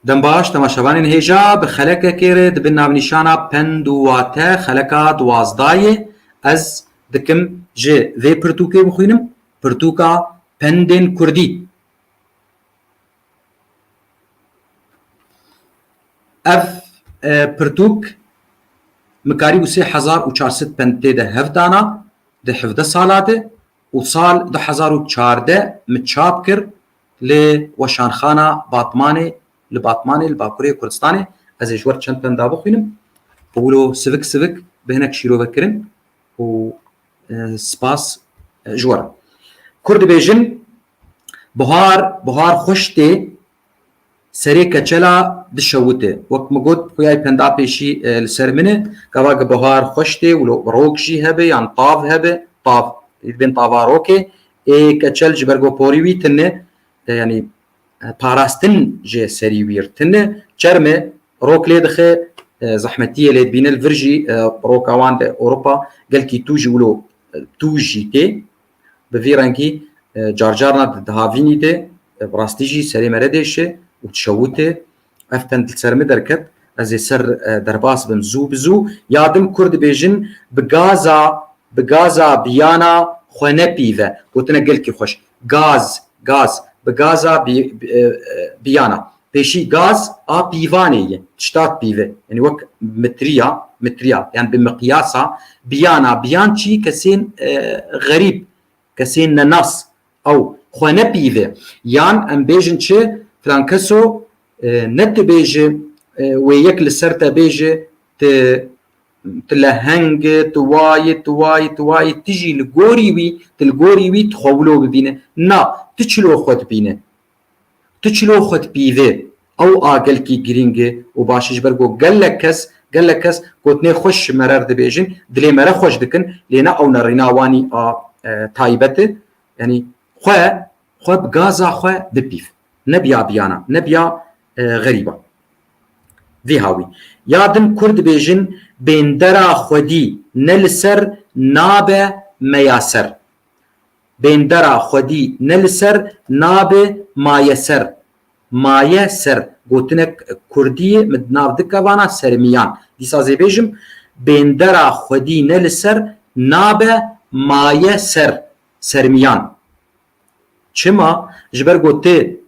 Dembaş, temaşevanên hêja bi xelekekê re dibin navnîşana pend û wate xeleka duwazdayê. Ez dikim ji vê pirtûkê bixwînim, pirtûka pendên kurdî. Ev pirtûk mikarî bû sê hezar û çar sed pend tê de hevdana di hevdeh sala de û sal du hezar û çardeh min çap kir Li Weşanxana Batmanê li Batmanê li Bakurê Kurdistanê ez ê ji wer çend pem dabixwînim û wilo sivik sivik bi hinek şîrovekirin û spas ji wer. Kur dibêjin Bihar bihar xweş tê Serê keçela dişewite. Wek min got xuyay pendapêşî li ser min e. Gava ki bihar xweş tê û rok jî hebe yan tav hebe, tav ê dibên tava rokê ê keçel ji ber ku porî wî tune yanî parastin jê serî wî ir tune çerme rok lê dixe zehmetiyê lê dibîne li vir jî roka wan de Ewropa gelkî tû jî wilo tû jî tê. Bi vî rengî carcarna di dihavînî de bi rastî jî serê me re dêşe û dişewite. Ev ten li ser min derket. Ez ê ser derbas bim zû bi zû. Ya din Kurd dibêjin bi gaza bi gaza biyana xwe nepîve. Gotine gelkî xweş. Gaz, gaz. Bi gaza biyana. Pêşî gaz a pîvanê ye, tiştat pîve, yanî wek mitriya, mitriya, yan bi miqyasa biyana, biyan çî kesên xerîb, kesên nenas ew xwe nepîve, yan em bêjin çi filan keso ne tu bêji wê yek li ser te bêji tu tu leheng î, tu wa yî, tu wa yî, tu wa yî, tu jî li gorî wî, tu li gorî wî tu xwe wilo bibîne. Na, tu çilo xwe dibîne. Tu çilo xwe dipîvê. Ew a gelkî girîng e û baş e ji ber ku gelek kes gelek kes gotinê xweş ji me re dibêjin, dilê me re xweş dikin lê ne ew nerîna wanî a taybet e. Yanî xwe xwe bi gaza xwe bipîv. Ne bi ya biyana, ne bi ya xerîban. Vî hawî. Ya din kurd dibêjin bêndera xwedî ne li ser nabe me ya ser. Bêndera xwedî ne li ser nabe maye ser. Maye ser gotinek kurdî ye min di nav dike vana sermiyan. Dîsa zê bêjim Bêndera xwedî ne li ser nabe maye ser, sermiyan. Çima? Ji ber ku ti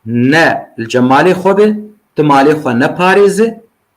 ne li cemalê xwe be, ti malê xwe neparêze,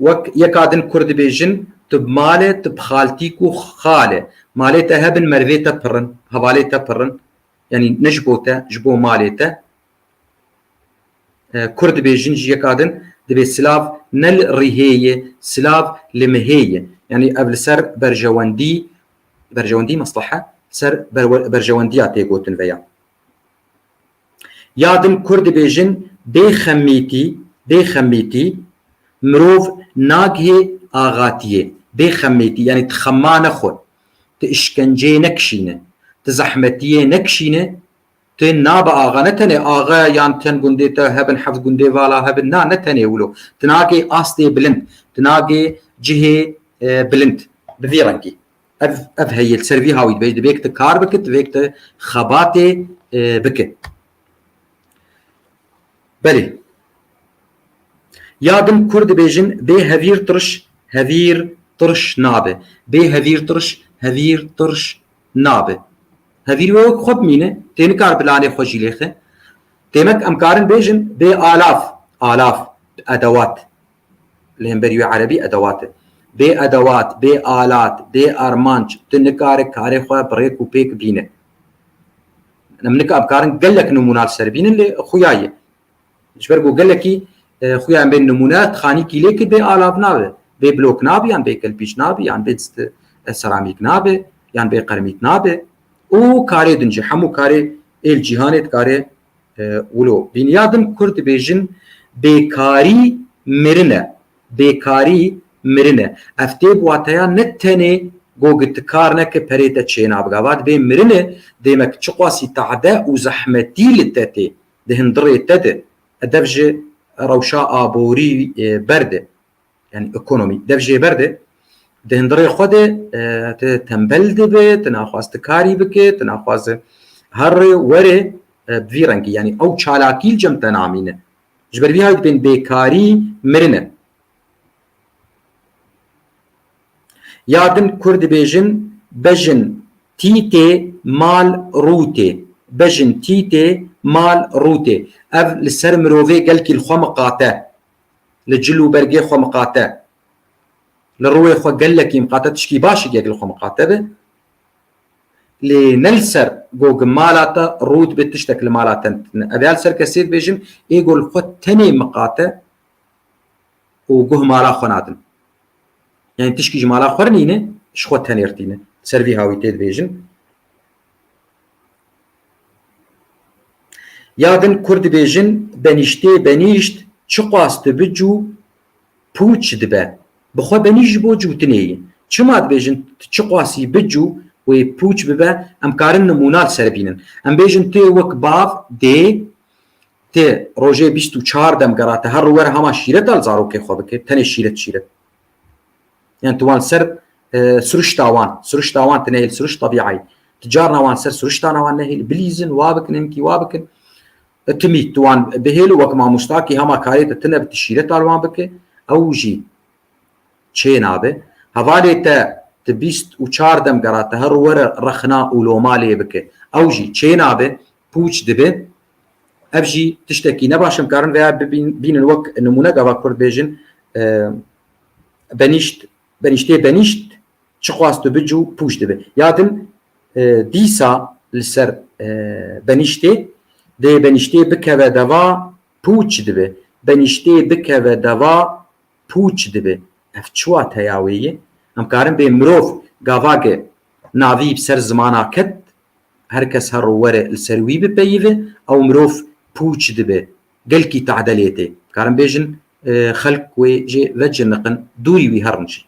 Wek yeka din kur dibêjin, Tu bi malê, tu bi xaltîk û xalê. Malê te hebin merivê te pirin, hevalê te pirin. Yanî ne ji bo te, ji bo malê te. Kur dibêjin jî yeka din, dibê silav ne li rihê yê, silav li mihê yê. Yanî ev li ser berjewendî, berjewendî meslehe, li ser berjewendiya tê gotin veya. Ya din Kurd dibêjin bê xemîtî, bê xemîtî mirov nagihê axatiyê. Bê xemîtî yanî ti xema nexwe, ti îşkenceyê nekişîne, ti zehmetiyê nekişîne, ti nabe axa. Ne tenê axe yan çend gundê te hebin, heft gundê vala hebin na, ne tenê wilo. Ti nagê astê bilind, ti nagê cihê bilind bi vî rengî. Ev ev heye li ser vî hawî dibê divêk te kar bike divêk te xebatê bike. Belê. Ya din kur dibêjin bê hevîr tiriş hevîr tiriş nabe. Bê hevîr tiriş hevîr tiriş nabe. Hevîr wê wek xwe bimîne tê nikar bilanê xwe jî lêxe. Têmek em karin bêjin bê alaf alaf edewat li hemberî wê erebî edewat e. Bê edewat, bê alat, bê armanc tu nikare karê xwe bi rêk û pêk bîne. Em nika bikarin gelek nimûna li ser bînin lê xuya ye. Ji ber ku gelekî xuya em bên nimûne tixanî kîlêkî bê alat nabe. Bê blok nabe yan bê kelpîç nabe yan bê seramîk nabe yan bê qermît nabe. Û karê din jî hemû karê êl cîhanê dikare Wilo bînyadim kur dibêjin bêkarî mirin e. Bêkarî mirin e. Ev tê bi wateya ne tenê go gi ti kar neke perê te çêna biga. Va dibê mirin e dê me ki çiqasî tade û zehmetî li te tê di hin dirê te de. Edeb ji rewşa aborî ber de. yani ekonomî dev jê ber de di hindirê xwe de tu tembel dibe tu naxwaz tu karî bike tu naxwaz herê werê bi vî rengî yani ew çalakî li cem te namîne ji ber vî hay dibên bêkarî mirine ya din kur dibêjin bejin tîtê mal rûtê bejin tîtê mal rûtê ev li ser mirovê gelkî li xwe miqate Li cil û bergê xwe miqate. Li rûyê xwe gelekî miqate tişkî baş e gek li xwe miqate be. Lê ne li ser gog mala te rût bê tiştek li mala te tune. Ev ya li ser kesê dibêjim ê ku li xwe tenê miqate û guh mala xwe nadin. Yani tişkî ji mala xwe rinîne ji xwe tenêrtîne. Li ser vî hawîtê dibêjim. Ya din kurd dibêjin benîştê benîşt çiqas tu bi cû pûç dibe. Bi xwe benîşt ji bo cûtinê yî. Çima dibêjin tu çiqasî bi cû wê pûç bibe em karin nimûna li ser bînin. Em bêjin tu yê wek bav dê tu rojê bîst û çar dem gera tu her rû were hema şîreta li zarokê xwe bike tenê şîret şîret. Yan tu wan ser siruşta wan, siruşta wan tu nehêl siruş tebîayî. Tu carna wan ser siruştana wan nehêl bilîzin wa bikin hinkî wa bikin. Timî tu wan bihêl û wek mamosta kî hema karê te tine bi tu şîreta li wan bike ew jî çê nabe. Hevalê te tu bîst û çar dem gera te her were rexna û loma lê bike ew jî çê nabe. pûç dibe. Ev jî tiştekî ne baş in karin vêya bînin wek nimûne gava kurd bêjin benîşt benîştê benîşt çi xwast û bicû pûç dibe. Ya din dîsa li ser benîştê dê benîştê bikeve deva pûç dibe. Benîştê bikeve deva pûç dibe. Ev çi wateya wê ye? Em karin bê mirov gavake navî bi ser zimana ket Her kes her ro were li ser wî bipeyive ew mirov pûç dibe. Gelkî tadelê tê. Karin bêjin xelk wê jê veciniqin, dûrî wî herin jî.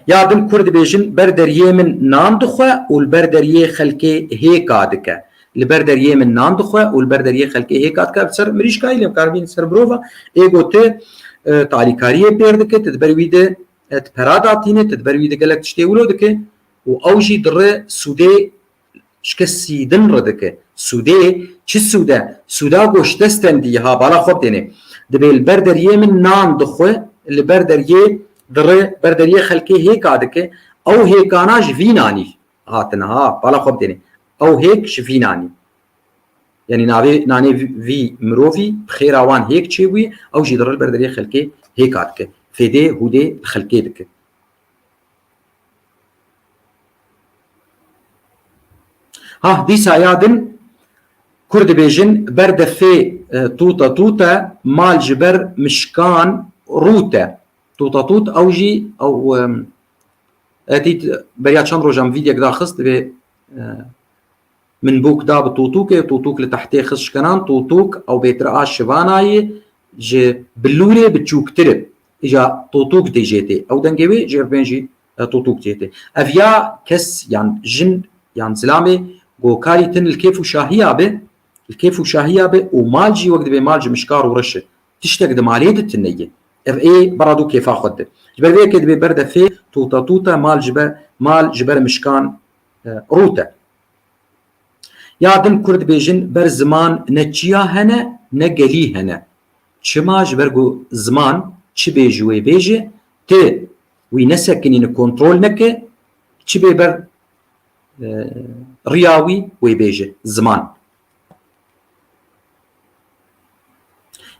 Ya din Kurd dibêjin ber deriyê min nan dixwe û li ber deriyê xelkê hêka dike. Li ber deriyê min nan dixwe û li ber deriyê xelkê hêka dike. Bi ser mirîşkayî lê bi kar bînin ser mirov a. Êgo tu talîkariyê pêr dike, tu di ber wî de e tu pera datînê tu di ber wî de gelek tiştê wilo dike û ew jî di re sûdê şike sîdin re dike sûdê çi sûde sûda goş te stendî ha bala xwe têne dibê li ber deriyê min nan dixwe li ber deriyê di re ber deriyê xelkê hêka dike ew hêkana ji vînanî hatin ha bala xwe têne ew hêk ji vînanî Yanî navê nanê vî mirovî bi xêra wan hêk çêbûyî, ew jî diril ber derê xelkê hêka dike. Fêdê hûdê li xelkê dike. Hah dîsa ya din Kurd dibêjin ber de fê tûta tûte mal ji ber mişkan rûte. Tûta tût ew jî ew etî beriya çend rojan vîdyek da xist divê Min bûk da bi tûtûkê, tûtûk li tehtê xist şkenan, tûtûk ew bêtir a şivana yê ji bilûrê bi çûktir e. Îja tûtûk dê jê tê. Ew dengê wê ji irpên jî tûtûk jê tê. Ev ya kes yan jin yan zilamê ku karî tin li kêf û şahiya be, li kêf û şahiya be û mal jî wek dibê mal ji mişkar û reş e. Tiştek di malê de tune ye. Ev ê berra dû kêfa xwe dide. Ji ber vê yekê dibê berde fê tûta tûta mal ji be mal ji ber mişkan Rût e. Ya din Kurd dibêjin ber ziman ne çiya hene ne gelî hene. Çima ji ber ku ziman çi bê ji wê bê jî tu wî nesekinîne kontrol neke çi bê ber riya wî wê bê jî ziman.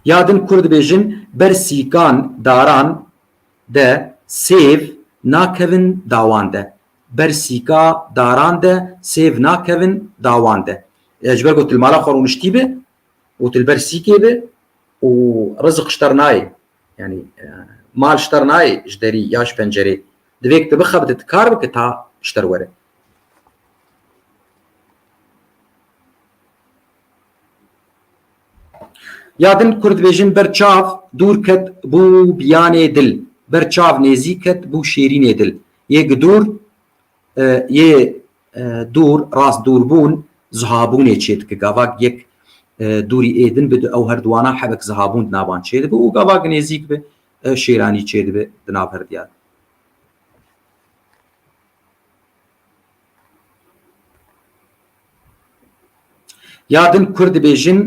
Ya din Kurd dibêjin ber sîkan daran de sêv nakevin dawan de. Ber sîka daran de sêv nakevin dawan de. Ji ber ku til mala xwe rûniştî be û til ber sîkê be û rizik ji ter nayê. Yanî mal ji ter nayê ji derî ya ji pencerê. Divê ku tu bixebite tu kar bike ta ji ter were. Ya din Kurd dibêjin ber çav dûr ket bû biyanê dil, ber çav nêzîk ket bû şêrînê dil. Yê gidûr yê dûr rast dûrbûn zihabûnê çêdike gavak yek dûrî ê din bi di ew her duwanan hebek zihabûn di navan çêdibe û gavak nêzîk bi şêranî çêdibe di nav her diyan. Ya din kurd dibêjin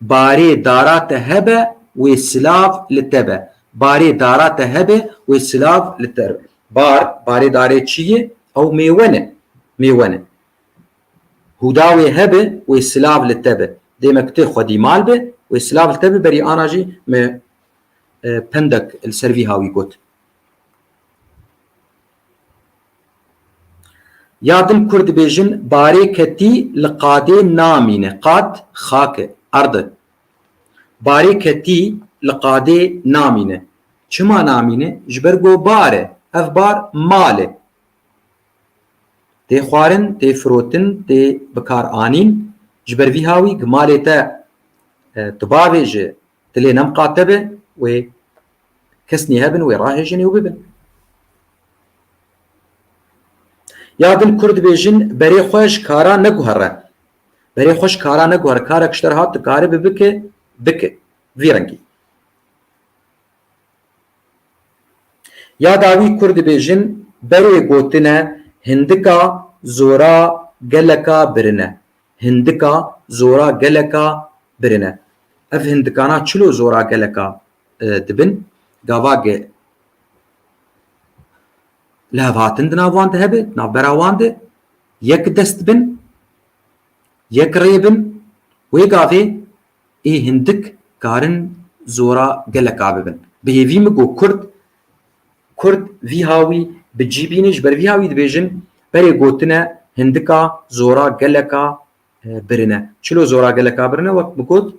Barê dara te hebe wê silav li te be. Barê dara te hebe wê silav li te be. Bar, barê darê çi ye? Ew mêwe ne. Mêwe ne. Hûda wê hebe wê silav li te be. Dê me kutê xwedî mal be wê silav li te be berî ana jî me pendek li ser vî hawî got. Ya din kurd dibêjin barê ketî li qadê namîne, qad xak e, erd e. Barê ketî li qadê namîne. Çima namîne? Ji ber ku bar e. Ev bar mal e. Tê xwarin, tê firotin, tê bikaranîn. Ji ber vî hawî, gi malê te tu bavêje, Tilê nem qate be wê kesnî hebin wê rahêjinê û bibin. Ya din Kurd bêjin berê xwe ji kara neguhere. Berê xwe ji kara neguhere. Karek ji te re hat dikaribe bike, bike. Vî rengî. Ya dawî Kurd bêjin berê gotine hindika zora geleka birine. hindika zora geleka birin e. Ev hindikana çilo zora geleka dibin, gavagê lihevhatin di nav wan de hebe, navbera wan de yek dest bin, yek rê bin, wê gavê ê hindik karin zora geleka bibin. Bi hêvî min got kurd, kurd vî ha wî bi cî bîne ji ber vî ha wî dibêjin berê gotine hindika zora geleka birine. Çilo zora geleka birine wek min got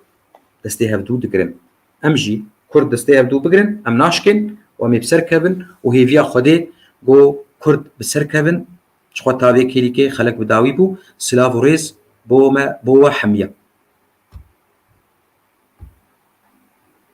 destê hevdû digirin. Em jî kurd destê hevdû bigirin em naşkên û em ê bi ser kevin û hêviya Xwedê got kurd bi ser kevin Ji xwe tavê kêlîkê xelek bi dawî bû. Silav û rêz bo me bo we Hemiye.